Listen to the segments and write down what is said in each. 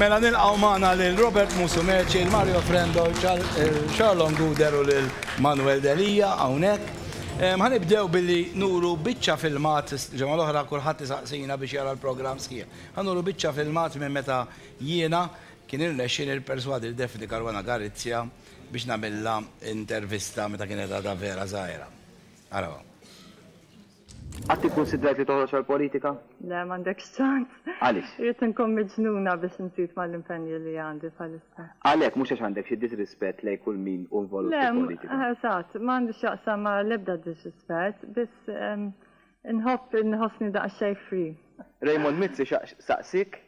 Mela nilqgħu magħna lil Robert Musumeci, Mario Frendo, Charlon Guder u lil Manuel Delia hawnhekk. Ħanibdew billi nuru biċċa filmat, ġemgħa l-oħra kulħadd isaqsina biex jara l-programm sħiħ. Ħanuru biċċa filmat minn meta jiena kien irnexxieli nipperswadi lil Daphne Caruana Galizia biex nagħmilha intervista meta kienet għadha vera żgħira. Araw hawn. Qatt ikkunsidrat li toħroġ għall-politika? Le, m'għandekx ċans. Għaliex? Irrid inkun miġnuna biex nżid mal-impenji li għandi bħalissa. Għalhekk, mhux għax għandek xi disrispett lejn kull min hu involut fil-politika? Le, eżatt, ma għandi x'jaqsam ma' l-ebda disrispett, biss inħobb inħossni daqsxejn free. Raymond Mizzi xtaq saqsik,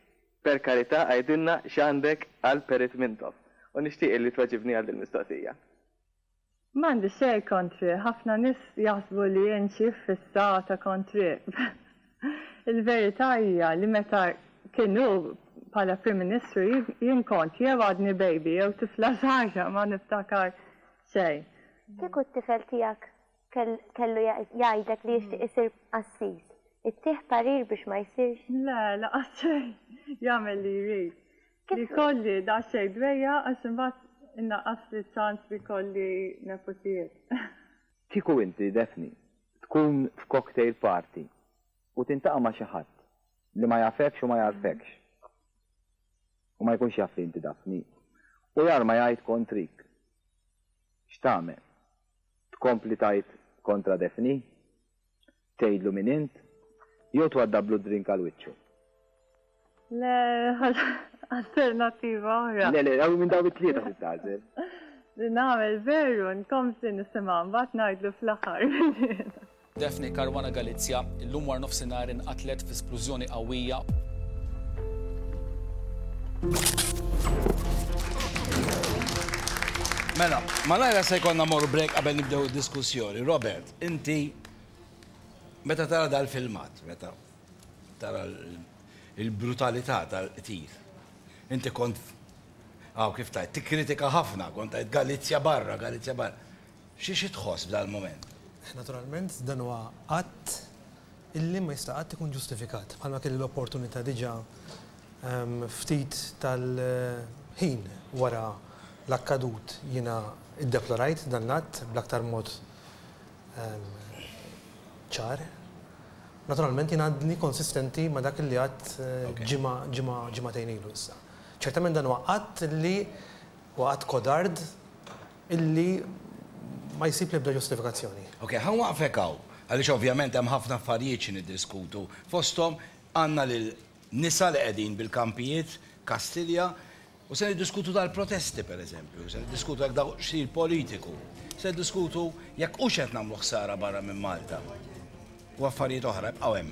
per karità għidilna x'għandek għal Perit Mintoff u nixtieq li tweġibni għal dil-mistoqsija. M'għandi xejn kontrih, ħafna nies jaħsbu li jien xi fissata kontrih. Il-verità hija li meta kien hu bħala Prim Ministru jien kont jew għadni baby jew tifla żgħira ma niftakar xejn. Kieku t-tifel tiegħek kellu jgħidlek li jixtieq isir qassis, ittih parir biex ma jsirx? Le, laqas xejn. Jagħmel li jrid. Li jkolli daqsxejn dwejjaq għax imbagħad innaqqasli ċ-ċans li jkolli neputijiet. Kieku inti, Daphne, tkun f'cocktail party u tintaqa' ma' xi ħadd li ma jafekx u ma jagħrfekx, u ma jkunx jaf li inti Daphne, u jarma jgħid kontrik, x'tagħmel? Tkompli tgħid kontra Daphne? Tgħidlu min int? Jew twaddablu d-drink għal wiċċu? Le, alternattiva oħra. Le, le, għaw minn daw it-tlieta li tażel. Li nagħmel veru, nkomsi nisimgħu mbagħad ngħidlu fl-aħħar. Daphne Caruana Galizia illum war nofsinhar inqatlet fi splużjoni qawwija. Mela, malajra se jkollna mor break qabel nibdew id-diskussjoni. Robert. Inti meta tara dal-filmat, meta tara l-brutalità tal-qtil, inti kont hawn kif tajt, tikkritika ħafna, kont tajt Galizja barra, Galizja barra. Xi xi tħoss f'dal-mument? Naturalment, dan huwa att illi ma jista' qatt ikun ġustifikat. Bħalma kelli l-opportunità diġà ftit tal-ħin wara l-akkadut jiena iddeplorajt dan l-att bl-aktar mod ċar. Naturalment jien għadni konsistenti ma' dak li għadt ġimgħa ġimgħa ġimgħatejn ilu issa. Ċertament dan huwa att li huwa att kodard illi ma jsib l-ebda ġustifikazzjoni. Ok, ħa nwaqfek hawn għaliex ovvjament hemm ħafna affarijiet xi niddiskutu. Fosthom għandna lil nisa li qegħdin bil-kampijiet, Kastilja, U se niddiskutu dal-protesti, per eżempju, se niddiskutu jekk dawk xir politiku, se niddiskutu jekk hux qed nagħmlu ħsara barra minn Malta. U affarijiet oħra jibqgħu hemm.